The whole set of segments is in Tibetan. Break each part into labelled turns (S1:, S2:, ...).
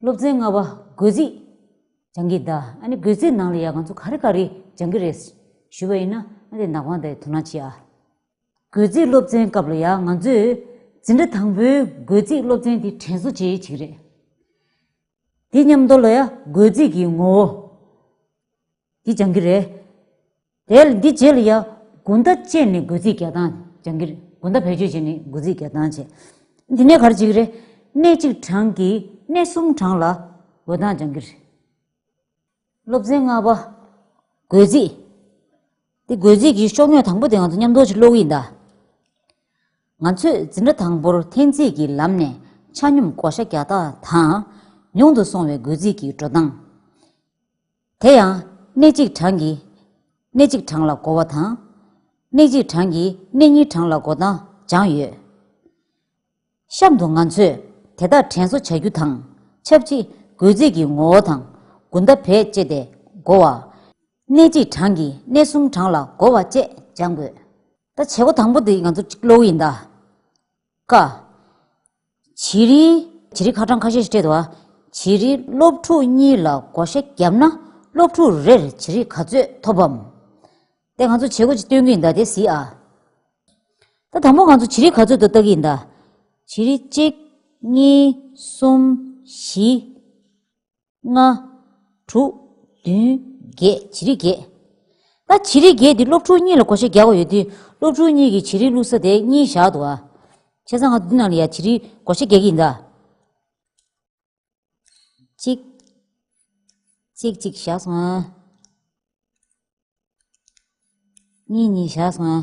S1: སློབ་ཚན་ལྔ་པ་སྒོས་རྩིས་སྦྱང་གི་གདའ། ཨ་ནི་སྒོས་རྩིས་ནང་ལ་ཡག་ག་ཚོད་ག་རེ་ག་རེ་སྦྱང་གི་རེད། ཞུས་པ་ཡིན་ན་ཨ་དེ་ནག་པང་དེ་དོ་སྣང་བྱེད་ཨ། སྒོས་རྩིས་སློབ་ཚན་སྐབས་ལ་ཡག་ང་ཚོས་འཛིན་གྲྭ་དང་པོའི་སྒོས་རྩིས་སློབ་ཚན་དེ་དྲན་གསོ་བྱེད་ཡུལ་གཅིག་རེད། དེ་མཉམ་དུ་ལ་ཡག་སྒོས་རྩིས་ཀྱི་ངོ་བོ། འདི་སྦྱང་གི་རེད། དེ་ལ་འདི་རྗེས་ལ་ཡང་དགུན་ཟླ་བཅས་ནས་དགུ་ཚིགས་བརྒྱ་དང་སྦྱང་གི་རེད། དགུན་ཟླ་བེད་སྤྱོད་བྱས་ནས་དགུ་ཚིགས་བརྒྱ་དང་བྱས། འདི་གནས་གར་བྱེད་ཀྱི་རེད། གནས་གཅིག་གྲངས་ཀྱིས་གནས་གསུམ་གྲངས་ལ་འོད་མདངས་སྦྱང་གི་རེད། སློབ་ཚན་ལྔ་པ། རྒོད་རྩིས། འདི་རྒོད་རྩིས་ཀྱི་ཤོག་ཉོས་དང་པོ་དེ་ང་ཚོ་མཉམ་འདོགས་ཀྱི་གློག་ཡིག་འདའ། ང་ཚོས་འཛིན་གྲྭ་དང་པོར་འཐེན་རྩིས་ཀྱི་ལམ་ནས་ཆ་སྙོམས་བགོ་བཤའ་བརྒྱ་རྟགས་དང། ཉུང་དུ་སོང་བའི་རྒོད་རྩིས་ཀྱི་འགྲོ་སྟངས། དེ་ཡང། གནས་གཅིག་གྲངས་ཀྱིས། གནས་གཅིག་གྲངས་ལ་བགོ་བ་དང། གནས་གཅིག་གྲངས་ཀྱིས་གནས་གཉིས་གྲངས་ལ་བགོ་སྟངས་སྦྱངས་ཡོད། གཤམ་དུ་ང་ཚོས་དེ་དག་དྲན་གསོ་བྱ་རྒྱུ་དང་ཆབས་ཅིག་རྒོལ་རྩིས་ཀྱི་ངོ་བོ་དང་དགུན་ཟླ་བེད་སྤྱད་དེ་བགོ་བ། གནས་གཅིག་གྲངས་ཀྱིས་གནས་གསུམ་གྲངས་ལ་བགོ་བ་བཅས་སྦྱང་དགོས། ད་བྱེད་སྒོ་དང་པོ་འདི་ང་ཚོ་གློག་ཡིན་ད། ཀ། བྱི་རི། བྱི་རི་ཁ་གྲངས་ཁ་ཤས་ཤིག་སྤྲད་དོ། བྱི་རི་སློབ་ཕྲུག་གཉིས་ལ་བགོ་བཤའ་བརྒྱབ་ན་སློབ་ཕྲུག་རེར་བྱི་རི་ག་ཚོད་ཐོབ་བམ། དེ་ང་ཚོ་བྱེད་སྒོ་ཅིག་སྟོན་གི་ཡིན་ད་དེ་ཟིག་ཨ། ད་དང་པོ་ང་ཚོ་བྱི་རི་ག་ཚོད་དུ་བལྟ་གི་ཡིན་ད། བྱི་རི་གཅིག། གཉིས། གསུམ། བཞི། ལྔ། དྲུག། བདུན། བརྒྱད། བྱི་རིགས་བརྒྱད། ད་བྱི་རིགས་བརྒྱད་འདི་སློབ་ཕྲུག་གཉིས་ལ་གོ་ཤེས་རྒྱག་གོ་ཡོད་དུས་སློབ་ཕྲུག་གཉིས་ཀྱིས་བྱི་རིགས་བླུགས་ས་དེ་གཉིས་བཞག་འདུག་ཨ། བྱས་ཙང་ང་འདི་ནང་ལ་ཡང་བྱི་རིགས་གོ་ཤེས་རྒྱག་གི་ཡིན་ད། གཅིག། གཅིག་གཅིག་བཞག་སོང་ཨ། གཉིས་གཉིས་བཞག་སོང་ཨ།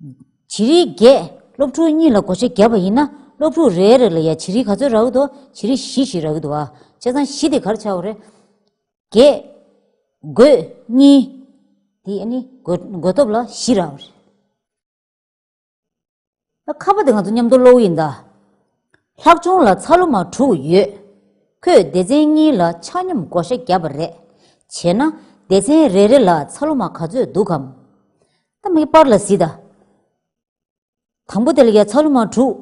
S1: བྱི་རིལ་བརྒྱད། སློབ་ཕྲུག་གཉིས་ལ་སྒོ་ཆ་བརྒྱབ་པ་ཡིན་ན་སློབ་ཕྲུག་རེའི་རེ་ལ་ཡང་བྱི་རིལ་ག་ཚོད་རག་གི་འདུག་བྱི་རིལ་བཞི་ཞིག་རག་གི་འདུག་ཨ། བྱས་ཙང་བཞི་དེ་གར་ཆགས་པ་རེད། བརྒྱད། དགོས། གཉིས། དེ་ཨ་ནི་དགོས་སྟོབས་ལ་བཞི་རག་པ་རེད། ཨ། ཁ་བ་དེ་ང་ཚོ་མཉམ་དུ་སློག་ཡིན་ད། ལྷག་ཆུང་ལ་ཚ་ལུ་མ་དྲུག་ཡོད། ཁོས་སྡེ་ཚན་གཉིས་ལ་ཆ་སྙོམས་སྒོ་ཆ་བརྒྱབ་པ་རེད། བྱས་ན་སྡེ་ཚན་རེ་རེ་ལ་ཚ་ལུ་མ་ག་ཚོད་འདུག་གམ། ད་མི་སྤར་ལ་སྲིད། དང་པོ་དེ་ལ་ཡ་ཚ་ལུ་མ་དྲུག།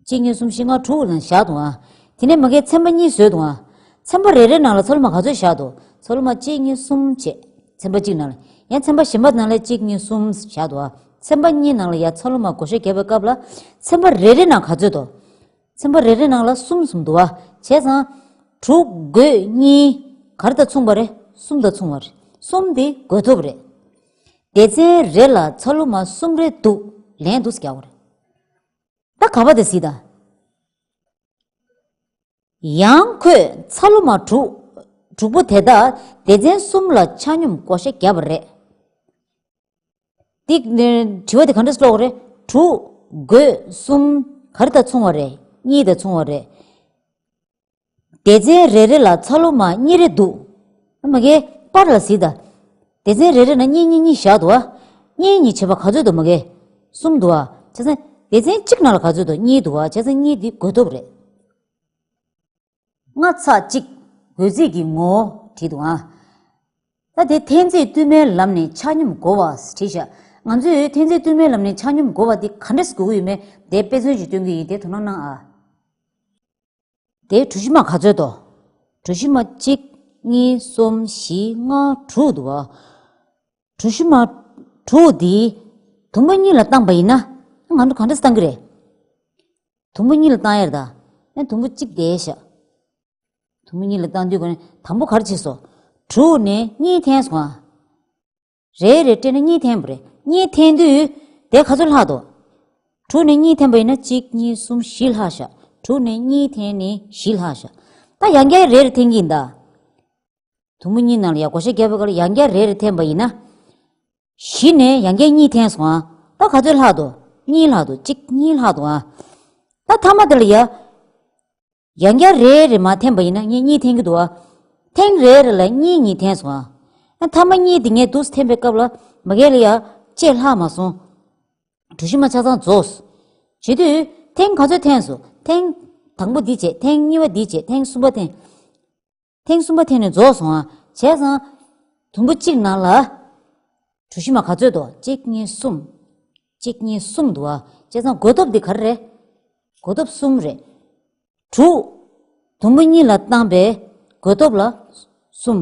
S1: གཅིག་གཉིས་གསུམ་བཞི་ལྔ་དྲུག་ནང་བཞག་ཏུ་འང། དེ་ནས་མ་གའི་ཚན་པ་གཉིས་བཟོས་ཏུ་འང། ཚན་པ་རེ་རེ་ནང་ལ་ཚ་ལུ་མ་ག་ཚོད་བཞག་ཏུ་ཚ་ལུ་མ་གཅིག་གཉིས་གསུམ་བཅས་ཚན་པ་གཅིག་ནང་ལ། ཡང་ཚན་པ་གཞན་པ་ནང་ལ་གཅིག་གཉིས་གསུམ་བཞག་ཏུ་འང་ཚན་པ་གཉིས་ནང་ལ་ཡ་ཚ་ལུ་མ་གོ་ཤ་རྒྱབ་པའི་སྐབས་ལ་ཚན་པ་རེ་རེ་ནང་ག་ཚོད་དོ། ཚན་པ་རེ་རེ་ནང་ལ་གསུམ་གསུམ་འདུ་བ་བྱས་ཙང། དྲུག་དགོས་གཉིས་གར་དང་མཚུངས་པ་རེ་གསུམ་དང་མཚུངས་བ་རེ་གསུམ་དེ་དགོས་ཐོབ་རེད། སྡེ་ཚན་རེ་ལ་ཚ་ལུ་མ་གསུམ་རེ་འདུག་ལན་དུ་བརྒྱག་བ་རེད། ད་ག་པ་དེ་སྲིད་དང། ཡང་ཁོས་ཚ་ལུ་མ་དྲུག་དྲུག་པོ་དེ་དག་སྡེ་ཚན་གསུམ་ལ་ཆ་སྙོམས་བགོ་བཤའ་བརྒྱབ་པ་རེད། འདི་དྲི་བ་འདི་གང་འདྲ་སོགས་རེད། དྲུག། དགོས། གསུམ། ག་རེ་དང་མཚུངས་བ་རེད། གཉིས་དང་མཚུངས་བ་རེད། སྡེ་ཚན་རེ་རེ་ལ་ཚ་ལུ་མ་གཉིས་རེ་འདུག། ཨ་མ་གས། པར་ལ་གཟིགས་དང། སྡེ་ཚན་རེ་རེ་ན་གཉིས་གཉིས་གཉིས་བཞག་འདུག་ཨ། གཉིས་གཉིས་བྱེད་པ་ག་ཚོད་འདུག་མ་གས། གསུམ་འདུག་ཨ། བྱས་ཙང། སྡེ་ཚན་གཅིག་ནང་ལ་ག་ཚོད་འདུག་གཉིས་འདུག་ཨ། བྱས་ཙང་གཉིས་འདི་དགོས་སྟོབས་རེད། ལྔ་ཚ་གཅིག། འོད་ཟེར་གྱི་ངོ་བོ་བྲིས་འདུག་ཨང། ད་དེ་ཐན་རྫས་བསྟུད་མའི་ལམ་ནས་ཆ་སྙོམས་འགོ་བ་བྲིས་ཤག་ང་ཚོས་ཐན་རྫས་བསྟུད་མའི་ལམ་ནས་ཆ་སྙོམས་འགོ་བ་དེ་ག་འདྲས་སུ་དགོས་ཀྱི་ཡོད་མེད་དེ་དཔེ་མཚོན་གྱིས་སྟོན་གྱི་ཡིན་དེ་དོ་སྣང་གནང་ཨ། དེའི་གྲུ་བཞི་མ་ག་ཚོད་དོ། གྲུ་བཞི་མ་གཅིག་གཉིས་གསུམ་བཞི་ལྔ་དྲུག་འདུག་ཨ། གྲུ་བཞི་མ་དྲུག་འདིའི་དུམ་བུ་གཉིས་ལ་བཏང་པ་ཡིན་ན་ང་ཚོ་ག་འདྲས་སུ་བཏང་གི་རེད། དུམ་བུ་གཉིས་ལ་བཏང་ཡར་དང། ཡང་དུམ་བུ་གཅིག་བདེ་བཞག། དུམ་བུ་གཉིས་ལ་བཏང་དུས་གོ། དང་པོ་གར་བྱས་སོ། དྲུག་ནི་གཉིས་འཐེན་སོང། རེ་རེ་སྤྲད་ན་གཉིས་འཐེན་པོ་རེད། གཉིས་འཐེན་དུས་དེ་ག་ཚོད་ལྷག་འདུག། དྲུག་ནི་གཉིས་འཐེན་པ་ཡིན་ན་གཅིག་གཉིས་གསུམ་བཞི་ལྷག་བཞག་དྲུག་ནི་གཉིས་འཐེན་ནི་བཞི་ལྷག་བཞག། ད་ཡང་བརྒྱ་ཡར་རེ་རེ་འཐེན་གྱིན་གདའ། དུམ་བུ་གཉིས་ནང་ལ་ཡང་གོ་ཤ་བརྒྱ་པའི་སྐར་ཡང་བརྒྱ་རེ་རེ་འཐེན་པ་ཡིན་ན། གཞི་ནས་ཡང་བརྒྱ་གཉིས་འཐེན་སོང་ཨང། ད་ག་ཚོད་ལྷག་འདུག་གཉིས་ལྷག་འདུག་གཅིག་གཉིས་ལྷག་འདུག་ཨང། ད་མཐའ་མ་དེ་ལ་ཡང། ཡང་བརྒྱ་རེ་རེ་མ་འཐེན་པ་ཡིན་ན་ངས་གཉིས་འཐེན་གྱི་འདུག་ཨང། ཐེངས་རེ་རེ་ལ་གཉིས་གཉིས་འཐེན་སོང་ཨང། མཐའ་མ་གཉིས་དེ་ངས་རྡུལ་ས་འཐེན་པའི་སྐབས་ལ་མ་གལ་ལ་ཡང་བཅད་ལྷག་མ་སོང། གྲུ་བཞི་མ་ཆ་ཚང་རྫོགས། བྱེད་དུས། ཐེངས་ག་ཚོད་འཐེན་སོང། ཐེངས། དང་པོ་འདི་བྱས་ཐེངས་གཉིས་པ་འདི་བྱས་ཐེངས་གསུམ་པ་འཐེན། ཐེངས་གསུམ་པ་དེ་ནི་རྫོགས་སོང་ཨ། བྱས་ཙང། དུམ་བུ་གཅིག་ནང་ལ། གྲུ་བཞི་མ་ག་ཚོད་དོ། གཅིག་གཉིས་གསུམ། གཅིག་གཉིས་གསུམ་འདུག་ཨ། བྱས་ཙང་སྒོ་སྟོབས་འདི་ག་རེ་རེད། སྒོ་སྟོབས་གསུམ་རེད། དྲུག། དུམ་བུ་གཉིས་ལ་བཏང་པའི་སྒོ་སྟོབས་ལ། གསུམ།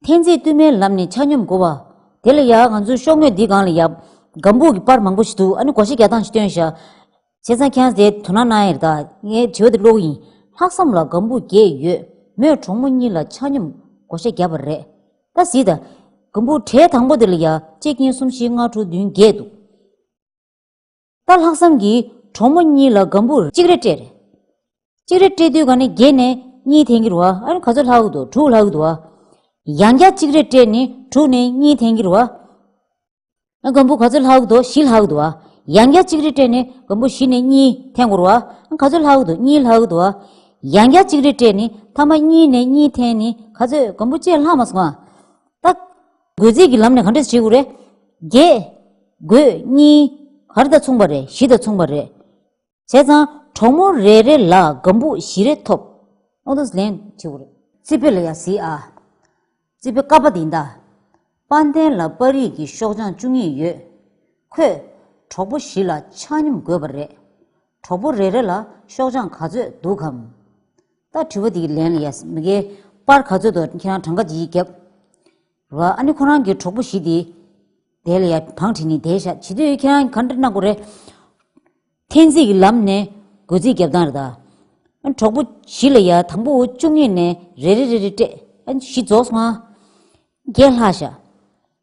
S1: འཐེན་རྩིས་བསྟུད་མའི་ལམ་ནས་ཆ་སྙོམས་བགོ་བ། དེ་ལ་ཡང་ང་ཚོས་ཤོག་ངོས་འདི་གང་ལ་ཡབ། སྒམ་པོ་གི་པར་མང་པོ་ཞིག་འདུག་ཨ་ནི་གོ་ཤེས་རྒྱག་སྟངས་ཤིག་སྟོན་ཞག། བྱས་ཙང་ཁྱེད་རང་དེ་དོ་སྣང་གནང་ཡེར་དགའ། ངའི་དྲི་བ་དེ་བློ་ཡིན། ལྷག་བསམ་ལ་སྒམ་པོ་བརྒྱད་ཡོད། མོས་གྲོགས་མོ་གཉིས་ལ་ཆ་སྙོམས་གོ་ཤེས་རྒྱབ་པ་རེད། ད་གཟིགས་ད། སྒམ་པོ་གྲལ་དང་པོ་དེ་ལ་ཡང་གཅིག་གཉིས་གསུམ་བཞི་ལྔ་དྲུག་བདུན་བརྒྱད་འདུག། སྟག་ལྷག་བསམ་གྱིས་གྲོགས་མོ་གཉིས་ལ་སྒམ་བུར་གཅིག་རེ་སྤྲད། གཅིག་རེ་སྤྲད་དུས་ག་ནི་བརྒྱད་ནས་གཉིས་ཐེན་གྱི་རུ་བ་ཨ་ནི་ག་ཚོད་ལྷག་འུ་འདུག་དྲུག་ལྷག་འུ་འདུག་བ། ཡང་བརྒྱ་གཅིག་རེ་སྤྲད་ནི་དྲུག་ནས་གཉིས་ཐེན་གྱི་རུ་བ་ཨ་ནི་སྒམ་བུ་ག་ཚོད་ལྷག་འུ་འདུག་བཞི་ལྷག་འུ་འདུག་བ། ཡང་བརྒྱ་གཅིག་རེ་སྤྲད་ནི་སྒམ་བུ་བཞི་ནས་གཉིས་ཐེན་གྱི་རུ་བ་ཨ་ནི་ག་ཚོད་ལྷག་འུ་འདུག་གཉིས་ལྷག་འུ་འདུག་བ། ཡང་བརྒྱ་གཅིག་རེ་སྤྲད་ནི་ཐ་མ་གཉིས་ནས་གཉིས་ཐེན་ནི་ག་ཚོད་སྒམ་བུ་བཅས་ལྷག་མ་སོང་བ། སྟག། དགོས་ཚིག་གི་ལམ་ནས་ག་འདྲས་བྱེད་དགོས་རེད། རྒྱས། དགོས། གཉིས། གར་དང་མཚུངས་པ་རེད་བཞི་དང་མཚུངས་པ་རེད། བྱས་ཙང། གྲོགས་མོ་རེ་རེ་ལ་སྒམ་པུག་བཞི་རེ་ཐོབ། ཨོ་ཏོས་ལན། བྱེད་དགོས་རེད། རྩིས་དཔེ་ལ་ཡང་གཟིགས་ཨ། རྩིས་དཔེ་བཀའ་པ་འདི་འདྲ། དཔའ་ལྡན་ལ་དཔའ་རིས་ཀྱི་ཤོག་བྱང་བཅུ་གཉིས་ཡོད། ཁོས། གྲོགས་པོ་བཞི་ལ་ཆགས་སྙོམས་དགོས་པ་རེད། གྲོགས་པོ་རེ་རེ་ལ་ཤོག་བྱང་ག་ཚོད་འདུག་གམ། ད་དྲི་བ་འདི་ལན་ལ་ཡས་མི་དགེ། པར་ག་ཚོད་འདུག་ཁྱེད་རང་གྲངས་ཀ་ཇི་ཡིས་བརྒྱབ། ར་ཨ་ནི་ཁོ་རང་གི་གྲོགས་པོ་བཞི་དེ། དེ་ལ་ཡས་བང་བྲིས་ནས་དེ་བཞག་བྱིས་དུས་ཁྱེད་རང་གི་ག་འདྲ་གནང་དགོས་རེད། འཐེན་རྩིས་ཀྱི་ལམ་ནས་སྒོས་རྩིས་བརྒྱབ་སྟངས་རེད་ད། གྲོགས་པོ་བཞི་ལ་ཡས་དང་པོ་བཅུ་གཉིས་ནས་རེ་རེ་རེ་རེ་སྤྲད། བཞི་རྫོགས་སོང་ཨ། བརྒྱད་ལྷག་བཞག།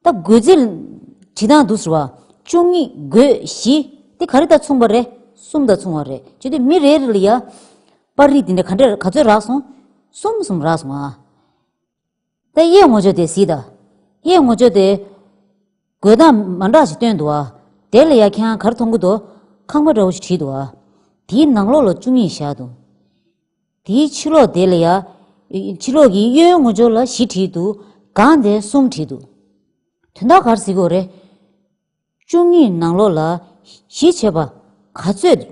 S1: ད་རྒོད་རྩེ། བྲིས་དང་འདུག་ཟེར་བ། བཅུ་གཉིས་རྒོད་བཞི། དེ་ག་རེ་དང་མཚུངས་པ་རེད། གསུམ་དང་མཚུངས་བ་རེད། བྱས་དུས་མི་རེ་རེ་ལ་ཡ། པར་རིས་འདི་འདྲ་ག་འདྲ་ག་ཚོད་རག་སོང། གསུམ་གསུམ་རག་སོང་ཨ། ད་གཡས་ངོ་ཅོག་དེ་གཟིགས་དང། གཡས་ངོ་ཅོག་དེ། རྒོད་དང་མ་འདྲ་ཞིག་བཏོན་འདུག་ཨ། དེ་ལ་ཡ་ཁྱེད་གར་མཐོང་གི་འདུག། ཁང་པ་འདྲ་བོ་ཞིག་བྲིས་འདུག་ཨ། དེའི་ནང་ལོགས་ལ་བཅུ་གཉིས་བཞག་འདུག། དེའི་ཕྱི་ལོགས་དེ་ལ་ཡང། ཕྱི་ལོགས་ཀྱི་གཡོན་ངོ་སྦྱོར་ལ་བཞི་བྲིས་འདུག་གང་དེ་གསུམ་བྲིས་འདུག། དོན་དག་གར་གཟིགས་འོ་རེ། བཅུ་གཉིས་ནང་ལོགས་ལ། གཞི་བྱེས་པ། ག་ཚོད།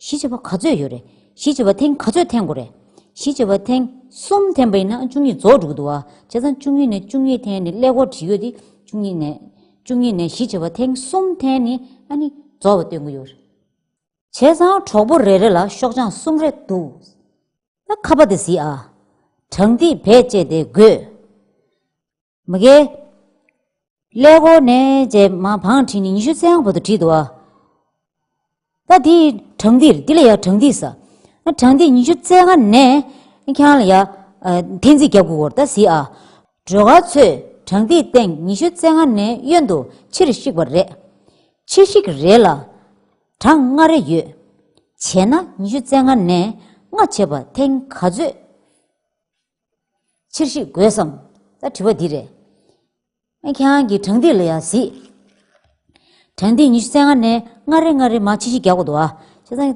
S1: གཞི་བྱེས་པ་ག་ཚོད་ཡོད་རེད། གཞི་བྱེས་པ་ཐེངས་ག་ཚོད་འཐེན་དགོས་རེད། གཞི་བྱེས་པ་ཐེངས་གསུམ་འཐེན་པ་ཡིན་ན་བཅུ་གཉིས་རྫོགས་འགྲོ་གི་འདུག་ཨ། བྱས་ཙང་བཅུ་གཉིས་ནས་བཅུ་གཉིས་འཐེན་ནི་ཀླད་ཀོར་བྲིས་ཡོད་དེ། བཅུ་གཉིས་ནས། བཅུ་གཉིས་ནས་གཞི་བྱེས་པ་ཐེངས་གསུམ་འཐེན་ནི་ཨ་ནི་རྫོགས་པ་སྟོན་གི་ཡོད་རེད། བྱས་ཙང་གྲོགས་པོ་རེ་རེ་ལ་ཤོག་བྱང་གསུམ་རེ་འདུག། ཨ་ཁ་པ་དེ་ཟིག་ཨ། དྲང་ཐིག་བེད་སྤྱད་དེ་དགོས། མི་དགེ། ཀླད་ཀོར་ནས་རྗེས་མ་བང་བྲིས་ནས་ཉི་ཤུ་ཚན་བོ་དུ་བྲིས་འདུག་ཨ། ད་དེ་དྲང་ཐིག་འདི་ལ་ཡ་དྲང་ཐིག་ཟ། དྲང་ཐིག་ཉི་ཤུ་ཚན་ལྔ་ནས་ཁྱང་ལ་ཡ་འཐེན་རྩིས་རྒྱབ་དགོས་སྐོར་ད་ཟིག་ཨ། སྒྲོལ་དཀར་ཚོས་དྲང་ཐིག་སྟེང་ཉི་ཤུ་ཚན་ལྔ་ནས་གཡོན་དུ་ཕྱིར་བཤིག་པ་རེད། ཕྱིར་བཤིག་རེད་ལ། གྲངས་ལྔ་རེ་ཡོད། བྱས་ན་ཉི་ཤུ་རྩ་ལྔ་ནས་ལྔ་བྱེད་པ་ཐེངས་ག་ཚོད་ཕྱིར་ཤི་དགོས་སམ། ད་དྲི་བ་འདི་རེད། ཨ་ཁྱེད་རང་གིས་གྲངས་འདི་ལ་ཡང་གཟིགས། གྲངས་འདི་ཉི་ཤུ་རྩ་ལྔ་ནས་ལྔ་རེ་ལྔ་རེ་མ་ཕྱི་ཤི་རྒྱག་པ་འདུག་ཨ། ཁྱེད་རང།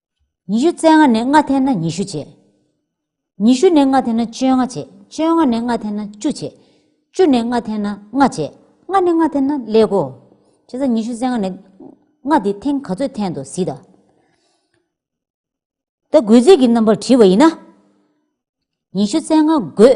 S1: ཉི་ཤུ་རྩ་ལྔ་ནས་ལྔ་འཐེན་ན་ཉི་ཤུ་བྱེད། ཉི་ཤུ་ནས་ལྔ་འཐེན་ན་བཅོ་ལྔ་བྱེད། བཅོ་ལྔ་ནས་ལྔ་འཐེན་ན་བཅུ་བྱེད། བཅུ་ནས་ལྔ་འཐེན་ན་ལྔ་བྱེད། ལྔ་ནས་ལྔ་འཐེན་ན་ཀླད་གོ། བྱས་ཙང་ཉི་ཤུ་རྩ་ལྔ་ནས་ལྔ་དེ་ཐེངས་ག་ཚོད་འཐེན་དུ་སྲིད། ད་རྒོད་རྩིས་ཀྱི་རྣམ་པར་བྲིས་པ་ཡིན་ན། ཉི་ཤུ་རྩ་ལྔ་རྒོད།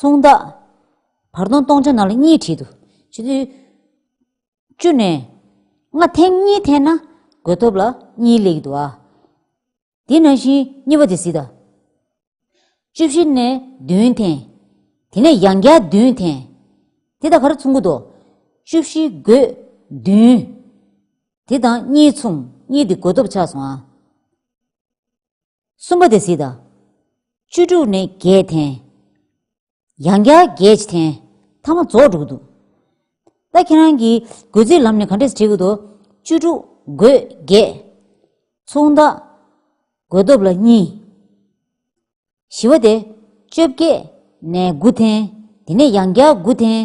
S1: མཚུངས་བདག། བར་སྟོང་སྟོང་ཆ་ནང་ལ་གཉིས་བྲིས་འདུག་ཕྱི་དྲོའི་བཅུ་ནས་ལྔ་ཐེངས་གཉིས་འཐེན་ན་དགོས་ཐོབ་ལ་གཉིས་ལེགས་འདུག་ཨ། དེ་ནང་བཞིན་གཉིས་པ་དེ་སྲིད་ད། བཅུ་བཞི་ནས་བདུན་འཐེན། དེ་ནས་ཡང་བརྒྱ་བདུན་འཐེན། དེ་དང་གར་མཚུངས་ཀུ་དོག། བཅུ་བཞི་དགོས། བདུན། དེ་དང་གཉིས་མཚུངས་གཉིས་དེ་དགོས་ཐོབ་ཆགས་སོང་ཨ། གསུམ་པ་དེ་སྲིད་དང། བཅུ་དྲུག་ནི་བརྒྱད་འཐེན། ཡང་བརྒྱ་བརྒྱད་ཅི་འཐེན། ཐ་མ་རྫོགས་དྲུག་འདུག། ད་ཁྱེད་རང་གིས་དགོས་ཚིག་ལམ་ནས་ག་འདྲས་བྲིས་ཀྱི་འདུག་བཅུ་དྲུག་དགོས་བརྒྱད། མཚུངས་རྟགས། དགོས་སྟོབས་ལ་གཉིས། བཞི་བ་དེ། བཅོ་བརྒྱད་ནས་དགུ་འཐེན། དེ་ནས་ཡང་བརྒྱ་དགུ་འཐེན།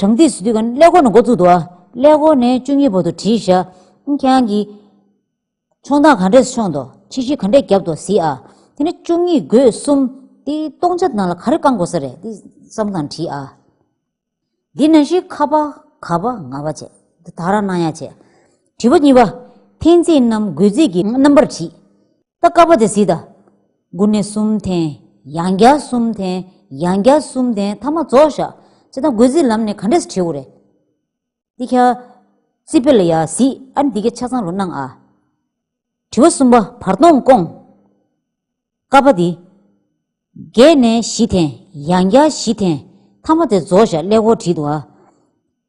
S1: དྲང་ཐིག་སུ་དུས་ཀྱང་ཀླད་ཀོར་ནས་འགོ་བཙུགས་འདུག་ཨ། ཀླད་ཀོར་ནས་བཅུ་གཉིས་པོ་དུ་བྲིས་བཞག། ཁྱེད་རང་གིས། མཆོང་སྟངས་ག་འདྲས་མཆོངས་འདུག་ཕྱི་བཞིན་ག་འདྲས་བརྒྱབ་འདུག་ཟེར་ཨ། དེ་ནས་བཅུ་གཉིས་དགོས་གསུམ། དེ་སྟོང་ཆ་ནང་ལ་ག་རེ་བསྐང་དགོས་ས་རེད། འདི་བསམ་དང་བྲིས་ཨ། འདི་ནང་བཞིན་ཁ་པ་ག་པ་ང་པ་བྱས། འདི་དག་རང་སྣང་ཡ་བྱས། བྲིས་པ་གཉིས་པ། འཐེན་ཚིག་རྣམས་དགོས་ཚིག་གི་རྣམ་པར་བྲིས། ད་བསྐ་པ་དེ་ཟིག་ད། དགུ་ནི་གསུམ་ལྡན། ཡང་བརྒྱ་གསུམ་ལྡན། ཡང་བརྒྱ་གསུམ་ལྡན་ཐ་མ་རྫོགས་བཞག། ཅེ་སྟག་རྒོད་ཟིག་ལམ་ནས་ག་འདྲས་སུ་བྲེའུ་རེ། ཏི་ཁྱ། ཙི་པེ་ལ་ཡ་ཟིག་ཨ་འདི་གས་ཆ་ཚང་རུ་སྣང་ཨ། དྲི་བ་གསུམ་པ་བར་སྟོང་སྐོང། ཀ་པ་འདི། བརྒྱད་ནས་བཞི་ལྡན། ཡང་བརྒྱ་བཞི་ལྡན། ཐ་མ་དེ་རྫོགས་བཞག་ཀླད་ཀོར་བྲིས་འདུག་ཨ།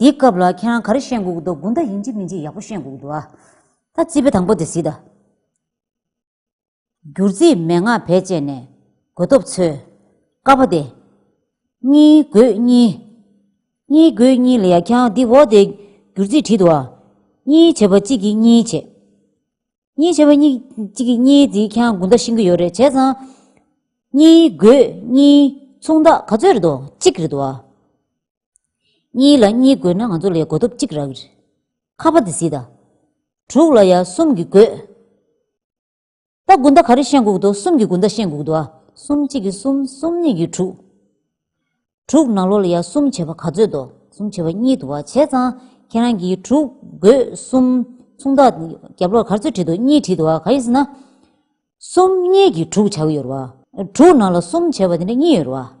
S1: འདི་སྐབས་ལ་ཁྱེད་རང་ག་རེ་བཤད་འགུག་འདུག་དགུན་ཟླ་ཡིན་གཅིག་མིན་གཅིག་ཡག་པོ་བཤད་འགུག་འདུག་ཨ། ད་རྩིས་པའི་དང་པོ་དེ་གཟིགས་ད། བསྒྱུར་རྩིས་མན་ངག་བེད་སྤྱད་ནས་དགོས་སྟོབས་འཚོལ། དཀའ་བ་དེ། གཉིས་དགོས་གཉིས། གཉིས་དགོས་གཉིས་ལ་ཡ་ཁྱེད་རང་འདི་འོག་དེ། བསྒྱུར་རྩིས་བྲིས་འདུག་ཨ། གཉིས་བྱེད་པ་གཅིག་གིས་གཉིས་བྱེད། གཉིས་བྱེད་པ་གཉིས་གཅིག་གིས་གཉིས་དེ་ཁྱེད་རང་དགུན་ཟླ་ཤིང་གི་ཡོད་རེད་བྱས་ཙང། གཉིས་དགོས་གཉིས་མཚུངས་རྟགས་ག་ཚོད་རེད་འདུག་གཅིག་རེད་འདུག་ཨ། གཉིས་ལ་གཉིས་བགོས་ན་ང་ཚོ་ལས་བགོ་ཐོབ་གཅིག་རག་རེད། ཁ་བ་དེ་སྲིད་ད། དྲུག་ལ་ཡ་གསུམ་གྱིས་བགོས། ད་དགུན་ཟླ་ག་རེ་ཤེས་འགུག་འདུག་གསུམ་གྱིས་དགུན་ཟླ་ཤེས་འགུག་འདུག་ཨ། གསུམ་གཅིག་གིས་གསུམ་གསུམ་གཉིས་ཀྱིས་དྲུག། དྲུག་ནང་ལོགས་ལ་ཡ་གསུམ་བྱེད་པ་ག་ཚོད་འདུག་གསུམ་བྱེད་པ་གཉིས་འདུག་ཨ་བྱས་ཙང་ཁྱེད་རང་གིས་དྲུག་བགོས་གསུམ་མཚུངས་དག་རྒྱབ་ལོགས་ག་ཚོད་བྲིས་འདུག་གཉིས་བྲིས་འདུག་ཨ་ག་ཡིན་ཟེར་ན། གསུམ་གཉིས་ཀྱིས་དྲུག་བྱ་གི་ཡོད་རེད་བ། དྲུག་ནང་ལ་གསུམ་བྱས་པ་དེ་འདྲ་གཉིས་ཡོད་རེད་བ།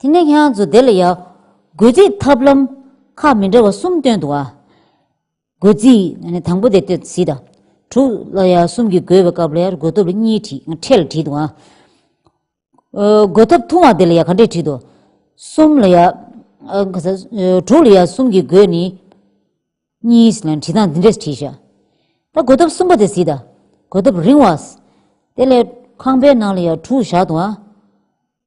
S1: དེ་ནས་ཁྱེད་རང་ཚོ་དེ་ལ་ཡག། སྒོས་རྩིས་ཐབས་ལམ་ཁག་མི་འདྲ་བ་གསུམ་སྟོན་འདུག་ཨ། སྒོས་རྩིས་དང་པོ་དེ་སྟོན་བཞི་དང། དྲུག་ལ་ཡར་གསུམ་གྱི་སྒོས་པའི་སྐབས་ལ་ཡར་སྒོས་ཐོབ་ལ་གཉིས་བྲིས་ཕྲད་ལ་བྲིས་འདུག་ཨ། སྒོས་ཐོབ་ཐུང་བ་དེ་ལ་ཡར་ཁ་འབྲས་བྲིས་འདུག་གསུམ་ལ་ཡར། ག་ས། དྲུག་ལ་ཡར་གསུམ་གྱི་སྒོས་ནི། གཉིས་ལ་བྲིས་སྟངས་འདི་འདྲས་བྲིས་ཤག། ད་སྒོས་ཐོབ་གསུམ་པ་དེ་བཞི་དང། སྒོས་ཐོབ་རིང་བ། དེ་ལས་ཁང་པའི་ནང་ལ་ཡར་དྲུག་བཞག་འདུག་ཨ།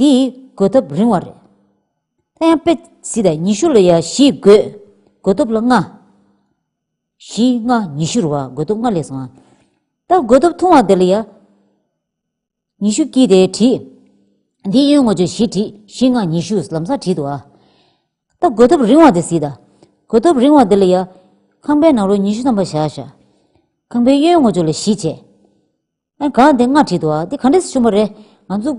S1: འདི་ཡི་འགོད་ཐབས་རིང་བ་རེད། ད་ཡང་དཔེ་བཞི་དང་ཉི་ཤུ་ལ་ཡང་བཞི་འགོད། འགོད་ཐབས་ལ་ལྔ། བཞི་ལྔ་ཉི་ཤུར་བ་འགོད་ཐབས་ལྔ་ལས་སོང། ད་འགོད་ཐབས་ཐུང་བ་འདི་ལ་ཡང། ཉི་ཤུ་བསྐྱིས་ཏེ་བྲིས། འདི་གཡོན་ངོ་ཆོས་བཞི་བྲིས་བཞི་ལྔ་ཉི་ཤུ་ལམ་སང་བྲིས་འདུག་ཨ། ད་འགོད་ཐབས་རིང་བ་འདི་བཟིས་དང། འགོད་ཐབས་རིང་བ་འདི་ལ་ཡང། ཁང་པའི་ནང་རོ་ཉི་ཤུ་ཐམ་པ་བཞག་བཞག། ཁང་པའི་གཡོན་ངོ་ཆོས་ལ་བཞི་བྱས། ཨ། ག་འདི་སྔར་བྲིས་འདུག་ཨ། འདི་ག་འདྲས་སུ་བྱུང་བ་རེད། ང་ཚོ།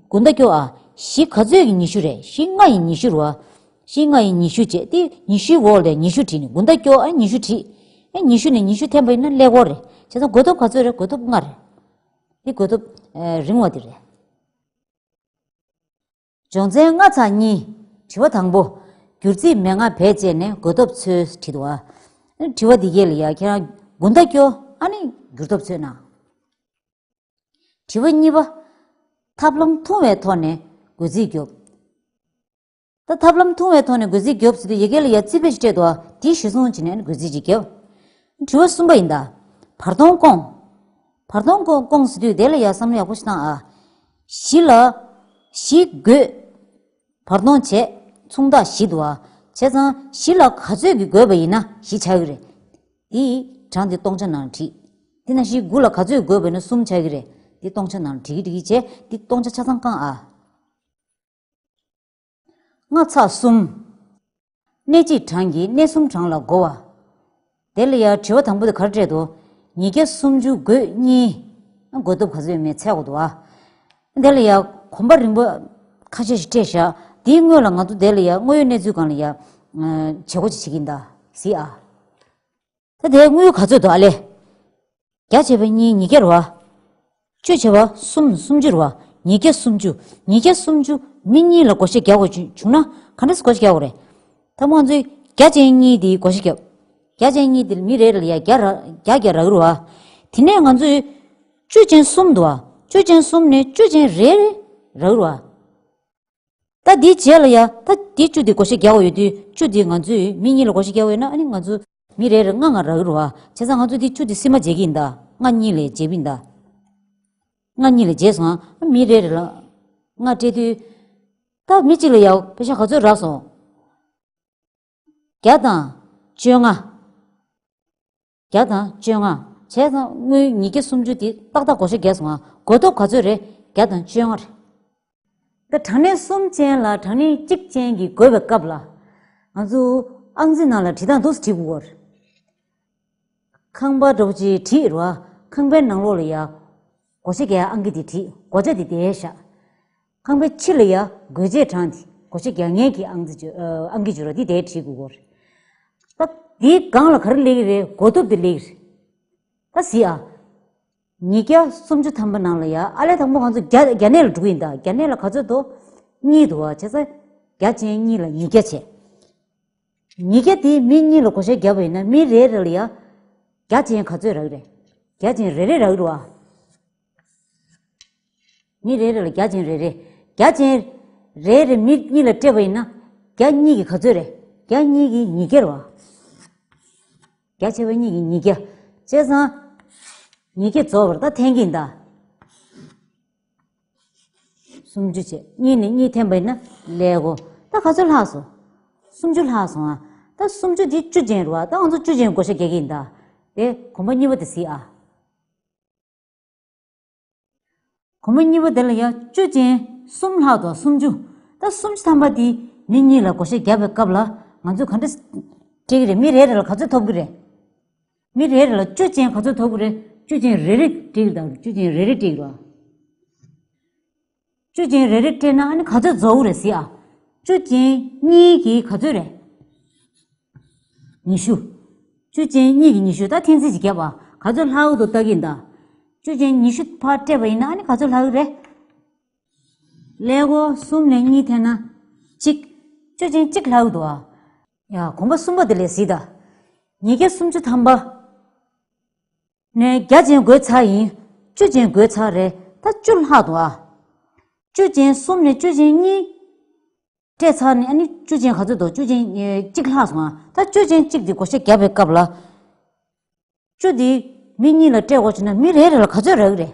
S1: དགུན་ཟླ་སྐྱོ་ཨ། བཞི་ག་ཚོད་ཀྱི་ཉི་ཤུ་རེད་བཞི་ལྔ་ཡི་ཉི་ཤུ་རུ་ཨ། བཞི་ལྔ་ཡི་ཉི་ཤུ་བྱས་ཏེ་ཉི་ཤུའི་འོག་ལས་ཉི་ཤུ་བྲིས་ནས་དགུན་ཟླ་སྐྱོ་ཨ་ཉི་ཤུ་བྲིས། ཨེ་ཉི་ཤུ་ནས་ཉི་ཤུ་འཐེན་པ་ཡིན་ན་ཀླད་ཀོར་རེད། བྱས་ཙང་དགོས་ཐོབ་ག་ཚོད་རེད་དགོས་ཐོབ་ལྔ་རེད། འདི་དགོས་ཐོབ། རིང་བ་འདི་རེད། སྦྱོང་ཚན་ལྔ་ཚང་གཉིས། དྲི་བ་དང་པོ། འགྱུར་རྩིས་མན་ངག་བེད་སྤྱད་ནས་འགོད་སྟོབས་འཚོལ་ཁྲིད་བ། དྲི་བ་འདི་ག་ལ་ཡང་ཁྱེད་རང་དགུན་ཟླ་སྐྱོ་ཨ་ནི་འགྱུར་སྟོབས་འཚོལ་ན། དྲི་བ་གཉིས་པ། ཐབས་ལམ་ཐུང་བའི་ཐོག་ནས་འགོད་རྩིས་རྒྱོབ། ད་ཐབས་ལམ་ཐུང་བའི་ཐོག་ནས་འགོད་རྩིས་རྒྱོབ་ཟེར་དུས་ཡི་གེ་ལ་ཡང་རྩིས་བེད་སྤྲད་དོ་དེའི་གཞི་བཟུང་བྱས་ནས་འགོད་རྩིས་ཅིག་རྒྱོབ། དྲི་བ་གསུམ་པ་ཡིན་ད། བར་སྟོང་སྐོང། བར་སྟོང་སྐོང་སྐོང་ཟེར་དུས་དེ་ལ་ཡ་བསམ་ཡག་པོ་ཞིག་གནང་ཨ། བཞི་ལ། བཞི་དགོས། བར་སྟོང་བྱས། མཚུངས་རྟགས་བཞི་འདུག་ཨ། བྱས་ཙང་བཞི་ལ་ག་ཚོད་ཀྱི་དགོས་པ་ཡིན་ན་བཞི་བྱ་གི་རེད། དེ་ཡི་གྲངས་དེ་སྟོང་ཆ་ནང་བྲིས། དེ་ན་བཞི་དགུ་ལ་ག་ཚོད་དགོས་པ་ཡིན་ན་གསུམ་བྱ་གི་རེད། དེ་སྟོང་ཆ་ནང་བྲིས་གི་བྲིས་གི་བྱས་དེ་སྟོང་ཆ་ཆ་ཚང་བསྐང་ཨ། སྔགས་ཚགས་གསུམ། གནས་གཅིག་གྲངས་ཀྱིས་གནས་གསུམ་གྲངས་ལ་བགོ་བ། དེ་ལ་ཡང་དྲིལ་བ་དང་པོ་དེ་གར་སྤྲད་དོ། ཉིས་བརྒྱ་སུམ་ཅུ་སྒོས་གཉིས། སྒོས་སྟོབས་ག་ཚོད་ཡོད་མེད་ཚད་བགོ་དུ་བ། དེ་ལ་ཡང་གོམ་པ་རིང་པོ་ཁ་ཤས་ཤིག་སྤྲད་བཞག་དེའི་སྔོན་ལ་ང་ཚོ་དེ་ལ་ཡང་དངོས་ཡོད་གནས་ཚུལ་གང་ལ་ཡང། བྱེད་སྒོ་ཅི་བྱེད་ཀྱིན་གདའ། གཟིགས་ཨ། ད་དེའི་དངུལ་ག་ཚོད་དོ་ཨ་ལས། བརྒྱ་བྱེ་བ་གཉིས་ཉིས་བརྒྱར་བ། བཅུ་བྱེ་བ་གསུམ་སུམ་ཅུར་བ་ཉིས་བརྒྱ་སུམ་ཅུ་ཉིས་བརྒྱ་སུམ་ཅུ་མི་གཉིས་ལ་སྒོ་ཤེར་བརྒྱ་བ་བྱུང་ན་ག་འདྲ་སེ་སྒོ་ཤེར་བརྒྱ་བ་རེད། ད་དངོས་གཙོའི་བརྒྱ་ཅན་གཉིས་དེའི་སྒོ་ཤེར་བརྒྱ། བརྒྱ་ཅན་གཉིས་དེ་མི་རེ་རེ་ལ་ཡང་བརྒྱ་བརྒྱ་རག་རུ་བ། དེ་ནས་ང་ཚོས་བཅུ་ཅན་གསུམ་དུ་བ་བཅུ་ཅན་གསུམ་ནས་བཅུ་ཅན་རེ་རག་རུ་བ། ད་འདིའི་རྗེས་ལ་ཡ། ད་འདི་བཅུ་འདི་གོ་ཤེས་རྒྱག་འོས་དུས། བཅུ་འདི་ང་ཚོས་མི་གཉིས་ལ་གོ་ཤེས་རྒྱག་འོས་ན་ཨ་ནི་ང་ཚོ། མི་རེ་རེར་ལྔ་ལྔ་རག་རུ་ཨ། བྱས་ཙང་ང་ཚོ་འདི་བཅུ་འདི་སིལ་མ་འཇལ་གྱི་ཡིན་ད། ལྔ་གཉིས་ལས་འཇལ་བི་ད། ལྔ་གཉིས་ལས་འཇལ་སོང་ཨ། མི་རེ་རེ་ལ། ལྔ་སྤྲད་དུས། ད་མི་གཅིག་ལ་ཡ། བེ་ཤ་ག་ཚོད་རག་སོང། བརྒྱ་དང། བཅོ་ལྔ། བརྒྱ་དང་བཅོ་ལྔ། བྱས་ཙང་སྔོན་ཉིས་བརྒྱ་སུམ་ཅུ་དེ་ཏག་ཏག་གོ་ཤ་བརྒྱད་སོང་ཨ། གོ་སྟོབས་ག་ཚོད་རེད་བརྒྱ་དང་བཅོ་ལྔ། ད་དྲང་གནས་གསུམ་ཅན་ལ་དྲང་གནས་གཅིག་ཅན་གྱི་དགོས་པའི་སྐབས་ལ། ང་ཚོ་ཨང་རྩིས་ནང་ལ་བྲིས་སྟངས་འདུག་སེ་བྲིས་པོ་བར། ཁང་པ་སྒྲོག་ཅེས་བྲིས་རོ་ཨ། ཁང་པའི་ནང་ལོགས་ལ་ཡ། གོ་ཤ་བརྒྱད་ཨང་ཀི་དེ་བྲིས་གོ་ཆ་དེ་བསྡད་ཤག། ཁང་པའི་ཕྱི་ལ་ཡ་གོས་རྗེས་འབྲངས་ཏེ་གོ་ཆ་རྒྱག་ཉལ་གྱི་ཨང་ཀི་བྱུ་ར་འདི་དེའི་གྲིའི་གུ་གོར་རེད། ད་འདིའི་སྒང་ལ་ག་རེ་ལེགས་རེད་གོ་ཐུབ་དེ་ལེགས་རེད། ད་གཟིགས་ཨ། ཉིས་བརྒྱ་སུམ་ཅུ་ཐམ་པ་ནང་ལ་ཡ་ཨ་ལས་དང་པོ་ང་ཚོ་རྒྱ་རྒྱ་ནད་ལ་འགྲོ་གི་ཡིན་ད་རྒྱ་ནད་ལ་ག་ཚོད་དོ། གཉིས་དུ་བ་བྱས་ཙང་རྒྱ་ཅན་གཉིས་ལ་ཉིས་བརྒྱ་བྱས། ཉིས་བརྒྱ་དེ་མི་གཉིས་ལ་གོ་ཆ་རྒྱབ་པ་ཡིན་ན་མི་རེ་རེ་ལ་ཡ་རྒྱ་ཅན་ག་ཚོད་རག་རེད་རྒྱ་ཅན་རེ་རེ་རག་རུ་ཨ། མི་རེ་རེ་ལ་བརྒྱ་བྱིན་རེ་རེ། བརྒྱ་བྱིན། རེ་རེ་མི་གཉིས་ལ་སྤྲད་པ་ཡིན་ན། བརྒྱ་གཉིས་ཀྱི་ག་ཚོད་རེད། བརྒྱ་གཉིས་ཀྱི་ཉིས་བརྒྱར་བ། བརྒྱ་ཆེ་བ་གཉིས་ཀྱི་ཉིས་བརྒྱ། བཅད་ཚང། ཉིས་བརྒྱ་རྫོགས་པར་ད་འཐེན་གྱིན་གདའ། སུམ་ཅུ་བྱས་གཉིས་ནས་གཉིས་འཐེན་པ་ཡིན་ན། ལེགས་གོ། ད་ག་ཚོད་ལྷག་སོང། སུམ་ཅུ་ལྷག་སོང་ཨ། ད་སུམ་ཅུ་དེ་བཅུ་ཅན་རེད་བ། ད་ང་ཚོ་བཅུ་ཅན་བགོ་བཤའ་རྒྱག་གིན་གདའ། དེ་གོམ་པ་གཉིས་པ་དེ་བཟི་ཨ། གུང་མོ་གཉིས་པོ་དེ་ལ་ཡང་བཅུ་ཅན་གསུམ་ལྷག་དང་སུམ་ཅུ། ད་སུམ་ཅུ་ཐམ་པ་དེ་མི་གཉིས་ལ་བགོ་བཤའ་བརྒྱབ་པའི་སྐབས་ལ་ང་ཚོས་ག་འདྲ་སྤྲད་ཀྱི་རེད་མི་རེ་རེ་ལ་ག་ཚོད་ཐོབ་ཀྱི་རེད། མི་རེ་རེ་ལ་བཅུ་ཅན་ག་ཚོད་ཐོབ་ཀྱི་རེད་བཅུ་ཅན་རེ་རེ་སྤྲད་ཀྱི་དང་བཅུ་ཅན་རེ་རེ་སྤྲད་ཀྱི་རེད། བཅུ་ཅན་རེ་རེ་སྤྲད་ན་ཨ་ནི་ག་ཚོད་རྫོགས་རེད་ཟེར་ཨ། བཅུ་ཅན་གཉིས་ཀྱི་ག་ཚོད་རེད། ཉི་ཤུ། བཅུ་ཅན་གཉིས་ཀྱི་ཉི་ཤུ་ད་ཐེངས་རྩིས་ཀྱི་བརྒྱབ་ཨ་ག་ཚོད་ལྷག་ཡོད་དོ་བལྟ་གི་འདའ། བཅུ་ཅན་ཉི་ཤུ་ཕར་སྤྲད་པ་ཡིན་ན་ཨ་ནི་ག་ཚོད་ལྷག་ཡོད་རེད། ཀླད་ཀོར་གསུམ་ལས་གཉིས་ཐད་ན་གཅིག། བཅུ་ཅན་གཅིག་ལྷག་ཡོད་དོ་ཨ། ཡ་གོམ་པ་གསུམ་པ་དེ་ལས་ཟིན་ད། ཉིས་བརྒྱ་སུམ་ཅུ་ཐམ་པ། ནས་བརྒྱ་ཅན་སྒོས་ཚར་ཡིན། བཅུ་ཅན་སྒོས་ཚར་རེད་ད་བཅུ་ལྷག་འདུག་ཨ། བཅུ་ཅན་གསུམ་ནས་བཅུ་ཅན་གཉིས། སྤྲད་ཚར་ནས་ཨ་ནི་བཅུ་ཅན་ག་ཚོད་འདུག་བཅུ་ཅན་གཅིག་ལྷག་སོང་ཨ། ད་བཅུ་ཅན་གཅིག་དེ་བགོ་བཤའ་བརྒྱབ་པའི་སྐབས་ལ། བཅུ་དེ་མི་གཉིས་ལ་སྤྲད་འོག་བྱས་ན་མི་རེ་རེ་ལ་ག་ཚོད་རག་གི་རེད།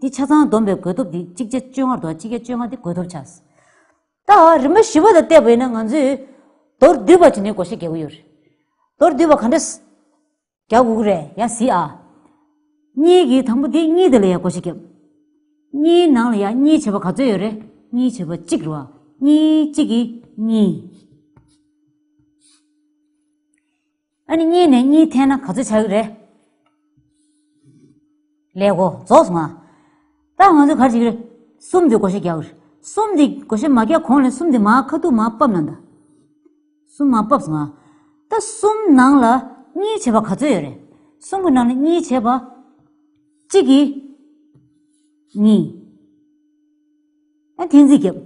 S1: དེ་ཆ་ཚང་བསྡོམས་པའི་དགོས་སྟོབས་དེ་གཅིག་བརྒྱ་བཅོ་ལྔར་འདུག་གཅིག་བརྒྱ་བཅོ་ལྔ་དེ་དགོས་སྟོབས་ཆགས་སོ། ད་རིམ་པ་བཞི་བ་དང་བལྟས་པས་ན་ང་ཚོས་མདོར་བསྡུས་པར་བྱས་ནས་གོ་ཤེས་རྒྱག་གི་ཡོད་རེད། མདོར་བསྡུས་པ་ག་འདྲ་རྒྱག་དགོས་ཀྱི་རེད་ཡ་གཟིགས་ཨ། གཉིས་ཀྱི་དང་པོ་དེ་གཉིས་དེ་ལ་ཡང་གོ་ཤེས་རྒྱབ། གཉིས་ནང་ལ་ཡང་གཉིས་བྱེད་པ་ག་ཚོད་ཡོད་རེད་གཉིས་བྱེད་པ་གཅིག་རེད་བ། གཉིས་གཅིག་གིས་གཉིས། ཨ་ནི་གཉིས་ནས་གཉིས་འཐེན་ན་ག་ཚོད་ཆགས་ཀྱི་རེད། ལེགས་གོ་རྫོགས་སོང་ང། ད་ང་ཚོས་གར་བྱེད་ཀྱི་རེད། གསུམ་དེ་གོ་ཤེས་རྒྱག་གི་རེད། གསུམ་དེ་གོ་ཤེས་མ་རྒྱག་གོང་ལས་གསུམ་དེ་མ་ཁ་ཐུག་མ་སྤབ་ན་འདའ། གསུམ་མ་སྤབས་སོང་ང། ད་གསུམ་ནང་ལ་གཉིས་བྱེད་པ་ག་ཚོད་ཡོད་རེད། གསུམ་གྱི་ནང་ལ་གཉིས་བྱེད་པ། གཅིག་གིས་གཉིས། ཨ་ཐེངས་རྩིས་རྒྱབ།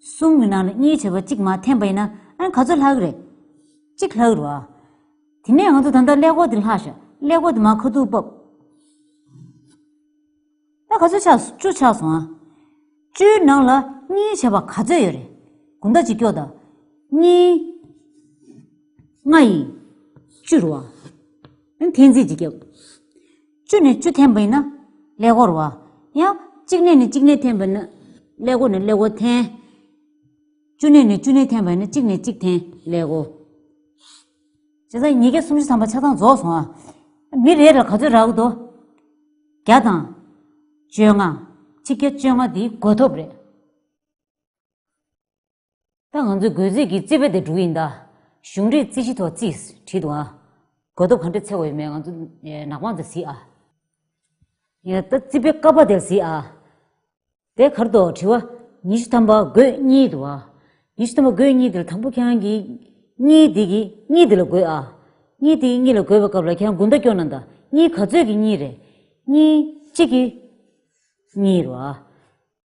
S1: གསུམ་གི་ནང་ལ་གཉིས་བྱས་པ་གཅིག་མ་འཐེན་པ་ཡིན་ན་ཨ་ག་ཚོད་ལྷག་རེད། གཅིག་ལྷག་རེད་བ། དེ་ནས་ང་ཚོ་ད་ལྟ་ཀླད་ཀོར་དེ་ལྷག་ཤག་ཀླད་ཀོར་དེ་མ་ཁ་ཐུག་བབས། ཨ་ག་ཚོད་ཆགས་སོང་བཅུ་ཆགས་སོང་ཨ། བཅུའི་ནང་ལ་གཉིས་བྱས་པ་ག་ཚོད་ཡོད་རེད་དགུ་ཟླ་གཅིག་ཀྱོག་ཟླ་གཉིས། ལྔ་ཡིས་བཅུ་རེད་བ། ཨ་ཐེངས་རྩིས་གཅིག་རྒྱབ། བཅུ་ནས་བཅུ་འཐེན་པས་ན་ཀླད་ཀོར་བ། ཡང་གཅིག་ནས་གཅིག་ནས་འཐེན་པས་ན་ཀླད་ཀོར་ནས་ཀླད་ཀོར་འཐེན། བཅུ་ནས་ནས་བཅུ་ནས་འཐེན་པས་ན་གཅིག་ནས་གཅིག་འཐེན་ཀླད་ཀོར། བྱས་ཙང་ཉིས་བརྒྱ་སུམ་ཅུ་ཐམ་པ་ཆ་ཚང་རྫོགས་སོང་ཨ། མི་རེ་རེར་ག་ཚོད་རག་དུ། བརྒྱ་དང། བཅོ་ལྔ། ཆིག་བརྒྱ་བཅོ་ལྔ་འདིའི་བགོ་ཐོབ་རེད། ད་ང་ཚོས་རྒོལ་རྩིས་ཀྱི་རྩིས་དཔེ་དེ་སྒྲུག་ཡིན་ད། གཞུང་འབྲེལ་རྩིས་གཞི་ཐོག་རྩིས་བྲིས་འདུག་ཨ། གོ་ཐོབ་ག་འདྲས་འཚེ་བ་ཡོད་མེད་ང་ཚོ་ནག་པང་དེར་གཟིགས་ཨ། ཡང་ད་རྩིས་དཔེ་ཀ་པ་དེར་གཟིགས་ཨ། དེ་གར་དུ་དྲི་བ། ཉི་ཤུ་ཐམ་པ་དགོས་གཉིས་འདུག་ཨ། ཉི་ཤུ་ཐམ་པ་དགོས་གཉིས་དེ་ལ་དང་པོ་ཁྱེད་རང་གིས། གཉིས་དེ་གིས་གཉིས་དེ་ལ་དགོས་ཨ། གཉིས་དེ་གིས་གཉིས་ལ་དགོས་པའི་སྐབས་ལ་ཁྱེད་རང་དགུ་མདའ་སྐྱོར་ན་ད་གཉིས་ག་ཚོད་ཀྱི་གཉིས་རེད། གཉིས་གཅིག་གི། གཉིས་རོ་ཨ།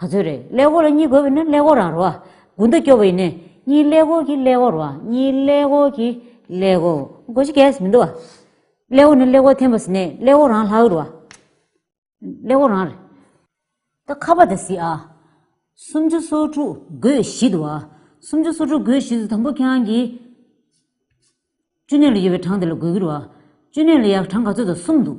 S1: ག་ཚོད་རེད་ཀླད་ཀོར་ལ་གཉིས་དགོས་པས་ན་ཀླད་ཀོར་ར་རོ། དགུ་མདའ་སྐྱོ་བས་ནི་གཉིས་ཀླད་ཀོར་གྱི་ཀླད་ཀོར་བ་གཉིས་ཀླད་ཀོར་གྱི་ཀླད་ཀོར་གོ་ཞིག་གས་མི་འདུག་བ། ཀླད་ཀོར་ནི་ཀླད་ཀོར་ཐེན་པ་སི་ནས་ཀླད་ཀོར་རང་ལྷག་རེད་བ། ཀླད་ཀོར་རང་རེད། ད་ཁ་བ་དང་སི་ཨ། སུམ་ཅུ་སོ་དྲུག་དགོས་བཞི་འདུག་བ། སུམ་ཅུ་སོ་དྲུག་དགོས་བཞི་དུ་དང་པོ་ཁྱེད་རང་གིས། བཅུ་གནས་ལ་ཡོད་པའི་གྲངས་དེ་ལ་དགོས་ཀྱི་རེད་བ། བཅུ་གནས་ལ་ཡག་གྲངས་ག་ཚོད་དང་གསུམ་འདུག།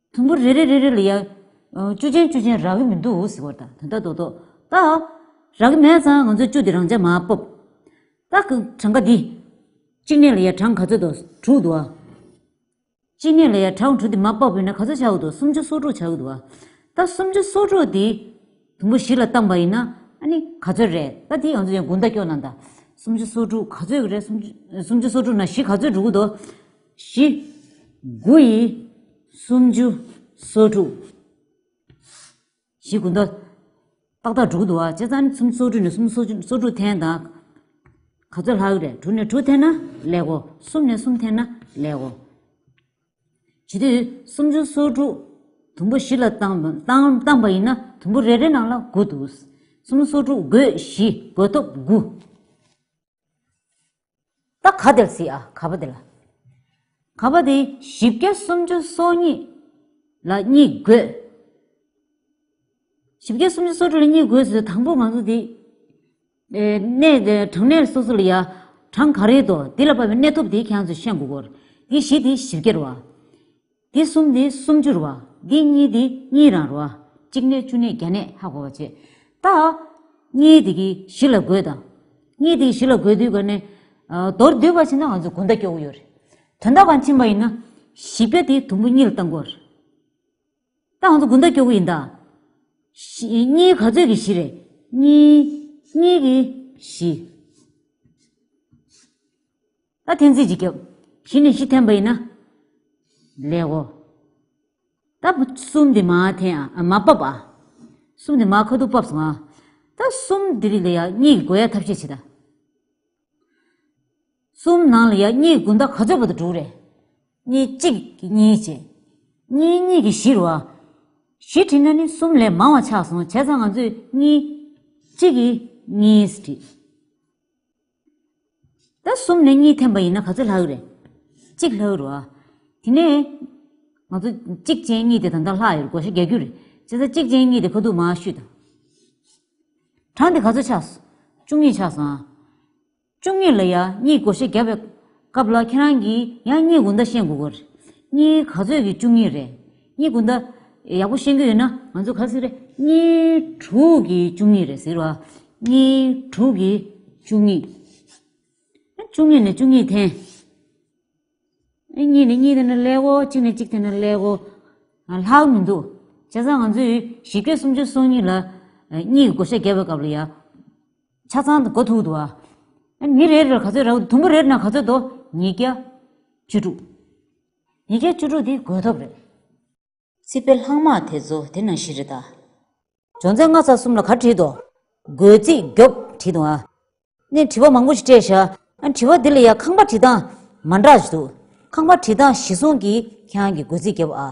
S1: དུམ་བུ་རེ་རེ་རེ་རེ་ལ་ཡང། བཅུ་ཅན་བཅུ་ཅན་རག་གི་མི་འདུག་ཟེར་བར་དང་དོན་དག་རྡོག་རྡོག་ལྟ། རག་གི་མེད་ཙང་ང་ཚོས་བཅུ་དེ་རང་འཇགས་མ་སྤོབས། རྟགས་ཀྱི་གྲངས་ཀ་འདི། གཅིག་གནས་ལ་ཡང་གྲངས་ག་ཚོད་འདུག་དྲུག་འདུག་ཨ། གཅིག་གནས་ལ་ཡང་གྲངས་དྲུག་དེ་མ་སྤོབས་ཡིན་ན་ག་ཚོད་ཆགས་ཀྱི་འདུག་སུམ་ཅུ་སོ་དྲུག་ཆགས་ཀྱི་འདུག་ཨ། རྟགས་སུམ་ཅུ་སོ་དྲུག་དེ། དུམ་བུ་བཞི་ལ་བཏང་བ་ཡིན་ན། ཨ་ནི་ག་ཚོད་རེད་རྟགས་དེ་ང་ཚོས་ཡང་དགུ་མདའ་སྐྱོ་ན་འདའ། སུམ་ཅུ་སོ་དྲུག་ག་ཚོད་རེད་སུམ་ཅུ་སོ་དྲུག་ན་བཞི་ག་ཚོད་འགྲོ་གི་འདུག། བཞི། དགུ་ཡི། སུམ་ཅུ། སོ་དྲུག། བཞི་དགུ་མདོ། ཏག་ཏག་དྲུག་འདུག་ཨ་ཅེ་རྩ་ནི་སུམ་སོ་དྲུག་ནས་སུམ་སོ་ཅུ་སོ་དྲུག་འཐེན་དང། ག་ཚོད་ལྷག་གི་རེད་དྲུག་ནས་དྲུག་འཐེན་ན་ལེགས་གོ་གསུམ་ནས་གསུམ་འཐེན་ན་ལེགས་གོ། བྱེད་དུས་སུམ་ཅུ་སོ་དྲུག་དུམ་བུ་བཞི་ལ་བཏང་བཏང་པ་ཡིན་ན་དུམ་བུ་རེ་རེ་ནང་ལ་དགུ་འདུག་གསུམ་སོ་དྲུག་དགུས་བཞི་དགུ་ཐོབ་དགུ། ད་ག་དེར་སྲིད་ཨ་ག་པ་དེ་ལ། ག་པ་དེ་བཞི་བརྒྱ་སུམ་ཅུ་སོ་གཉིས་ལ་གཉིས་བགོས། བཞི་བརྒྱ་སུམ་ཅུ་སོ་དྲུག་ལ་གཉིས་བགོས་ཟེར་དང་པོ་ང་ཚོ་དེ་གནས་གྲངས་གནས་སོ་སོ་ལ་ཡ་གྲངས་ག་རེད་དོ་དེ་ལ་དཔག་པའི་གནས་ཐོབ་དེ་ཁྱེད་རང་ཚོས་ཤེས་དགོས་གོ། དེ་བཞི་དེ་བཞི་བརྒྱར་བ། འདི་གསུམ་ནི་སུམ་ཅུར་བ། འདི་གཉིས་ནི་གཉིས་རང་རོ། གཅིག་ནས་བཅུ་ནས་བརྒྱ་ནས་ཧ་གོ་བར་བྱེད། ད། གཉིས་དེ་གིས་བཞི་ལ་བགོས་དང། གཉིས་དེ་གིས་བཞི་ལ་བགོས་དུས་ཀ་ནས། མདོར་བསྡུས་པར་ཕྱིན་ན་ང་ཚོ་དགུ་ཟླ་སྐྱོ་བོ་ཡོད་རེད། དོན་དག་པར་ཕྱིན་པ་ཡིན་ན། བཞི་བརྒྱ་དེ་དུམ་བུ་གཉིས་ལ་བཏང་དགོས་རེད། ད་ང་ཚོ་དགུ་ཟླ་སྐྱོ་བོ་ཡིན་ད། བཞི། གཉིས་ག་ཚོད་ཀྱིས་བཞི་རེད། གཉིས། གཉིས་ཀྱིས་བཞི། ལ་ཐན་ཚིག་ཅིག་སྐྱབས། གཞི་ནས་གཞི་ཐན་པ་ཡིན་ན། ལེགས་གོ། ད་གསུམ་དེ་མ་ཐན་ཨ་མ་པབ་ཨ། གསུམ་དེ་མ་ཁ་ཐུག་པབ་སོང་ཨ། ད་གསུམ་དེ་རིགས་ལ་ཡང་གཉིས་ཀྱི་སྒོ་ཡ་ཐབས་ཤེས་བྱེད་ད། གསུམ་ནང་ལ་ཡང་གཉིས་ཀྱི་དགུན་ཟླ་ག་ཚོད་པ་དུ་དྲུག་རེད། གཉིས་གཅིག་གིས་གཉིས་བྱེད། གཉིས་གཉིས་ཀྱིས་བཞི་རུ་ཨ། བཞི་བྲིས་ན་ནི་གསུམ་ལས་མང་བ་ཆགས་སོང་བྱས་ཙང་ང་ཚོས་གཉིས་གཅིག་གིས་གཉིས་བྲིས། ད་གསུམ་ནས་གཉིས་འཐེན་པ་ཡིན་ན་ག་ཚོད་ལྷག་རེད། གཅིག་ལྷག་རུ་ཨ། དེ་ནས། ང་ཚོ་གཅིག་ཅན་གཉིས་དེ་ད་ལྟ་ལྷག་ཡོད་གོ་ཤ་རྒྱག་རྒྱུ་རེད། བྱས་ཙང་གཅིག་ཅན་གཉིས་དེ་ཁ་ཐུག་མ་བཤུས་དང། གྲངས་དེ་ག་ཚོད་ཆགས། བཅུ་གཉིས་ཆགས་སོང་ཨ། བཅུ་གཉིས་ལ་ཡང་གཉིས་གོ་ཤ་རྒྱག་པའི། སྐབས་ལ་ཁྱེད་རང་གིས་ཡང་རྙེད་དགོས་མདའ་ཤེས་དགོས་ཀྱི་རེད། རྙེད་ག་ཚོད་ཀྱི་བཅུ་གཉིས་རེད། རྙེད་དགོས་མདའ། ཡག་པོ་ཤེས་གྱི་ཡོད་ན་ང་ཚོ་ག་ཟིག་རེད། རྙེད་དྲུག་གི་བཅུ་གཉིས་རེད་ཟེར་བ། རྙེད་དྲུག་གི་བཅུ་གཉིས། བཅུ་གཉིས་ནས་བཅུ་གཉིས་འཐེན། གཉིས་ནས་གཉིས་འཐེན་ན་ལེགས་གོ་གཅིག་ནས་གཅིག་འཐེན་ན་ལེགས་གོ། ལྷག་མི་འདུག་བྱས་ཙང་ང་ཚོས་བཞི་བརྒྱ་སུམ་ཅུ་སོ་གཉིས་ལ། གཉིས་ཀྱི་བགོ་བཤའ་བརྒྱབ་པའི་སྐབས་ལ་ཡང། ཆ་ཚང་དུ་གོ་ཐུག་ཏུ། མི་རེ་རེར་ག་ཚོད་རག་དུམ་བུ་རེར་ན་ག་ཚོད་དོ། ཉིས་བརྒྱ་བཅུ་དྲུག། ཉིས་བརྒྱ་བཅུ་དྲུག་འདི་བགོས་ཐོབ་རེད། སྲིད་པའི་ལྷག་མ་དེ་ཚོ་དེ་ནང་བཞིན་རེད་ད། སྦྱོང་ཚན་ལྔ་ཚ་གསུམ་ལ་ག་བྲིས་ཏོ། དགོས་ཚིག་རྒྱོབ་བྲིས་ཏོ། ནས་དྲི་བ་མང་པོ་ཞིག་སྤྲད་ཤ། དྲི་བ་དེ་ལ་ཡང་ཁང་པ་བྲིས་སྟངས་མ་འདྲ་ཞིག་འདུག་ཁང་པ་བྲིས་སྟངས་གཞི་བཟུང་གིས་ཁྱེད་རང་གི་དགོས་ཚིག་རྒྱབ་ཨ།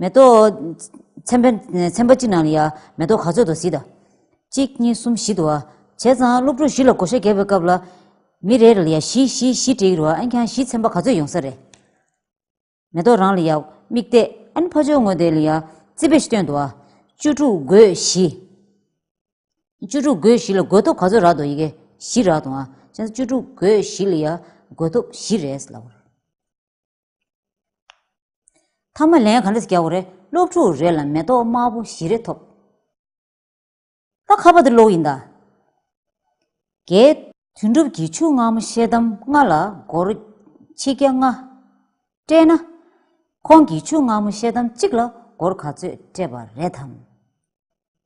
S1: མེ་ཏོག། ཚན་པ་གཅིག་ནང་ལ་ཡ། མེ་ཏོག་ག་ཚོད་དུ་བཟི་ད། གཅིག་གཉིས་གསུམ་བཞི་དུ་ཨ། བྱས་ཙང་སློབ་ཕྲུག་བཞི་ལ་གོ་ཤ་བརྒྱབ་པའི་སྐབས་ལ། མི་རེ་རེ་ལ་ཡ་བཞི་བཞི་བཞི་བྲིས་རོ་ཨན་ཁྱང་བཞི་ཚན་པ་ག་ཚོད་ཡོང་ས་རེད། མེ་ཏོག་རང་ལ་ཡ། མིག་བལྟས་ཨན་ཕ་ཆོས་ངོ་དེ་ལ་ཡ། རྩིས་པས་སྟོན་དུ་ཨ། བཅུ་དྲུག་དགོས་བཞི། བཅུ་དྲུག་དགོས་བཞི་ལ་དགོས་ཐོབ་ག་ཚོད་རག་ཏུ་ཡི་གེ་བཞི་རག་ཏུ་ཨ། བྱས་ཙང་བཅུ་དྲུག་དགོས་བཞི་ལ་ཡ། དགོས་ཐོབ་བཞི་རེད། ཐ་མ་ལན་ག་འདྲ་བརྒྱ་བོ་རེད་སློབ་ཕྲུག་རེ་ལ་མེ་ཏོག་དམར་པོ་བཞི་རེ་ཐོབ། ད་ཁ་བ་འདི་ལོག་ཡིན་ད། རྒྱའི། དོན་གྲུབ་ཀྱིས་ཆུ་སྔ་མོ་ཤེལ་དམ་ལྔ་ལ་སྒོར་ཆིག་བརྒྱ་ལྔ། སྤྲད་ན། ཁོང་གིས་ཆུ་སྔ་མོ་ཤེལ་དམ་གཅིག་ལ་སྒོར་ག་ཚོད་སྤྲད་པ་རེད་དམ།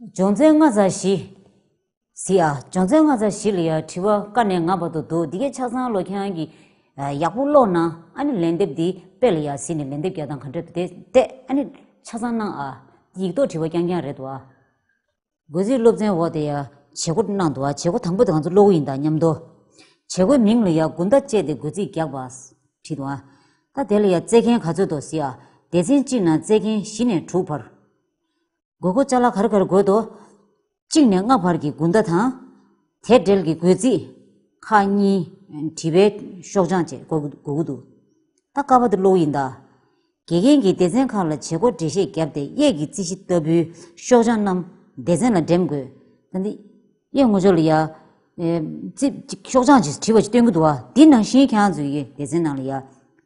S1: སྦྱོང་ཚན་ལྔ་ཚ་བཞི། ཟི་ཨ། སྦྱོང་ཚན་ལྔ་ཚ་བཞི་ལ་ཡང་དྲི་བ་ཀ་ནས་ང་བར་དུ་འདུག་འདི་གས་ཆ་ཚང་ལོ་ཁྱང་གིས་ཡག་པོ་ཀློག་ན་ཨ་ནི་ལན་འདེབས་འདི་དཔེ་ལ་ཡག་ཟིན་ནས་ལན་འདེབས་བརྒྱ་དང་ག་འདྲ་དེ་བལྟས་ཨ་ནི་ཆ་ཚང་གནང་ཨ། ཡིག་ཐོག་དྲི་བ་རྐྱང་རྐྱང་རེད་འདུག་ཨ། སྒོས་ཟིའི་སློབ་ཚན་འོག་དེ་ཡང་བྱེད་སྒོ་གནང་འདུག་ཨ་བྱེད་སྒོ་དང་པོ་དེ་གང་ཚོ་ཀློག་ཡིན་དང་སྙམ་དོ། བྱེད་སྒོའི་མིང་ལ་ཡང་དགུན་ཟླ་བཅས་ཏེ་སྒོས་ཟིས་རྒྱག་པ། བྲིས་འདུག་ཨ། ད་དེ་ལ་ཡང་རྩེད་མཁན་ག་ཚོད་འདུག་ཟི་ཨ། སྡེ་ཚན་གཅིག་ནང་རྩེད་མཁན་བཞི་ནས་དྲུག་བར། དགོས་དགུ་ཅག་ལ་གར་གར་དགོད་དོ། གཅིག་ནས་སྔགས་བར་གྱི་དགུན་ཟླ་དང། དེ་འབྲེལ་གྱི་དགོས་རྩིས། ཁ་གཉིས། བྲིས་པའི་ཤོག་བྱང་བཅས་དགོས་དགུ་འདུག། ད་ཀ་བ་དུ་ཀློག་ཡིན་ད། དགེ་རྒན་གྱིས་སྡེ་ཚན་ཁག་ལ་བྱེད་སྒོ་འགྲེལ་བཤད་བརྒྱབ་སྟེ་གཡས་ཀྱི་རྩིས་གཞི་ལྟ་བུའི་ཤོག་བྱང་རྣམས་སྡེ་ཚན་ལ་འགྲེམས་དགོས། ད་འདི། གཡས་ངོ་ཅོག་ལ་ཡ། རྩིས། ཤོག་བྱང་ཅིག་བྲིས་པ་ཅིག་སྟོན་གྱི་འདུག་ཨ། འདི་ནང་བཞིན་ཁྱེད་རང་ཚོས་ཀྱི་སྡེ་ཚན་ནང་ལ་ཡ།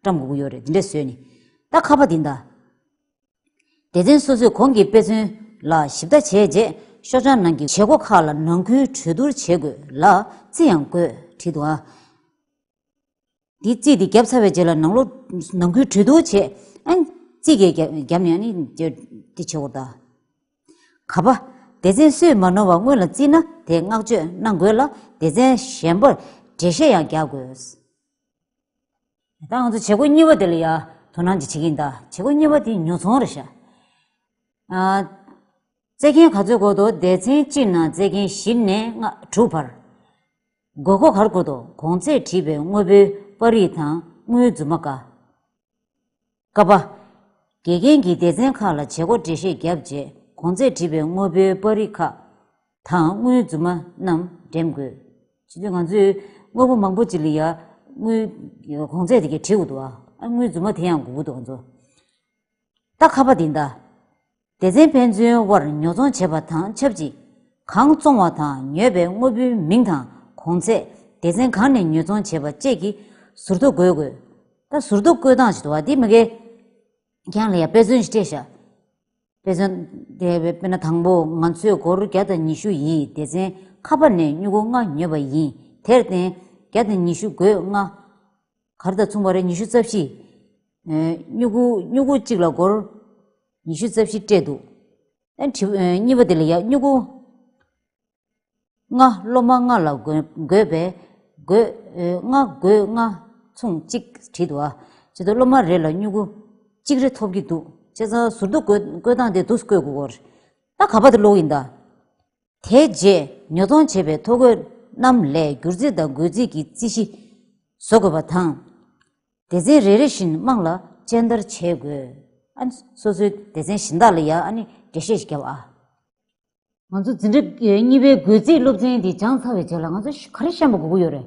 S1: བཀྲམ་དགོས་ཀྱི་ཡོད་རེད་འདི་འདྲས་བཟོས་ནས། ད་ཁ་བ་འདི་ད། སྡེ་ཚན་སོ་སོས་གོང་གི་དཔེ་མཚོན་ལ་ཞིབ་ལྟ་བྱས་རྗེས་ཤོག་བྱང་ནང་གི་བྱེད་སྒོ་ཁག་ལ་ནང་ཁུལ་གྲོས་བསྡུར་བྱེད་དགོས་ལ་རྩིས་ཡང་དགོས་བྲིས་འདུག་འདི་རྩིས་དེ་བརྒྱབ་ཚར་བའི་རྗེས་ལ་ནང་ལོག་ནང་ཁུལ་གྲོས་བསྡུར་བྱས་རྩིས་གས་བརྒྱབ་ནས་ནི་དེ་བྱེད་དགོས་དང། ག་པ། སྡེ་ཚན་སུས་མ་ནོར་བ་སྔོན་ལ་བརྩིས་ན་དེ་བསྔགས་བརྗོད་གནང་དགོས་ལ་སྡེ་ཚན་གཞན་པར་འགྲེལ་བཤད་ཡང་རྒྱག་དགོས། ད་ང་ཚོ་བྱེད་སྒོ་གཉིས་པ་དེ་ལ་ཡང་དོ་སྣང་ཅིག་བྱེད་ཀྱིན་གདའ། བྱེད་སྒོ་གཉིས་པ་དེ་ཉོ་ཚོང་རེད་ཤག། བཙལ་མཁན་ག་ཚོད་གོ་དོ་སྡེ་ཚན་གཅིག་ནང་བཙལ་མཁན་བཞི་ནས་ལྔ་དྲུག་བར། དགོས་མཁོ་གར་གོ་དོ་གོང་ཚད་བྲིས་པའི་དངོས་པོའི་པར་རིས་དང་དངུལ་རྫུན་མ་འགའ། ཀ་པ། དགེ་རྒན་གྱིས་སྡེ་ཚན་ཁག་ལ་བྱེད་སྒོ་འགྲེལ་བཤད་བརྒྱབ་རྗེས་གོང་ཚད་བྲིས་པའི་དངོས་པོའི་པར་རིས་ཁག་དང་དངུལ་རྫུན་མ་རྣམས་འགྲེམས་དགོས། ཇི་སྟེ་ང་ཚོས་དངོས་པོ་མང་པོ་ཅིག་ལ་ཡང་དངུལ་གོང་ཚད་དེ་གའི་བྲིས་འོག་ཏུའང་དངུལ་རྫུན་མ་དེ་ཡང་འགོད་དགོས་འདུག་ང་ཚོ་ལྟ་ཁ་པ་འདི་ལྟ། སྡེ་ཚན་ཕན་ཚུན་དབར་ཉོ་ཚོང་བྱེད་པ་དང་ཆབས་ཅིག་གང་བཙོང་བ་དང་ཉོས་པའི་དངོས་པོའི་མིང་དང་གོང་ཚད་སྡེ་ཚན་གང་ནས་ཉོ་ཚོང་བྱས་པ་བཅས་ཀྱི་ཟུར་ཐོ་འགོད་དགོས། ད་ཟུར་ཐོ་བཀོད་སྟངས་ཞིག་དུ་བ་དེ་གང་ལ་ཡང་དཔེ་མཚོན་ཞིག་སྤྲད་བཞག་དཔེ་མཚོན་དེ་དཔེར་ན་དང་པོ་ང་ཚོས་སྒོར་བརྒྱ་དང་ཉི་ཤུ་ཡིས་སྡེ་ཚན་ཁ་པར་ནས་སྨྱུ་གུ་ལྔ་ཉོས་པ་ཡིན་དེར་བརྟེན་བརྒྱ་དང་ཉི་ཤུ་སྒོས་ལྔ། གར་དང་མཚུངས་པ་རེ་ཉི་ཤུ་རྩ་བཞི། སྨྱུ་གུ་སྨྱུ་གུ་གཅིག་ལ་སྒོར་ཉི་ཤུ་རྩ་བཞི་སྤྲད་འདུག། གཉིས་པ་དེ་ལ་ཡང་སྨྱུ་གུ་ལྔ་སློབ་མ་ལྔ་ལ་བགོས་པས་བགོས་ལྔ་བགོས་ལྔ་མཚུངས་གཅིག་བྲིས་འདུག་ཨ། ཅེ་ཏོ་སློབ་མ་རེ་ལ་སྨྱུ་གུ་གཅིག་རེ་ཐོབ་ཀྱི་འདུག་ཅེ་ཚང་ཟུར་དུ་བཀོད་སྟངས་དེ་དུ་བཀོད་དགོས་སྐོར། ད་ག་པ་དེ་ལོག་ཡིན་ད། དེའི་རྗེས་ཉོ་ཚོང་བྱེད་པའི་ཐོ་འགོད་རྣམས་ལས་སྒྱུར་རྩིས་དང་འགོད་རྩིས་ཀྱི་རྩིས་གཞི་བཟོ་དགོས་པ་དང། སྡེ་ཚན་རེ་རེ་བཞིན་དམངས་ལ་སྤྱན་བསྟར་བྱེད་དགོས། སོ་སོའི་སྡེ་ཚན་གཞན་དག་ལ་ཡང་འགྲེལ་བཤད་བརྒྱབ་ཨ། ང་ཚོ་འཛིན་གྲྭ་གཉིས་པའི་འགོད་རྩིས་སློབ་ཚན་འདི་སྦྱངས་ཚར་བའི་རྗེས་ལ་ང་ཚོ་ག་རེ་བཤམས་པ་དགོས་ཀྱི་ཡོད་རེད།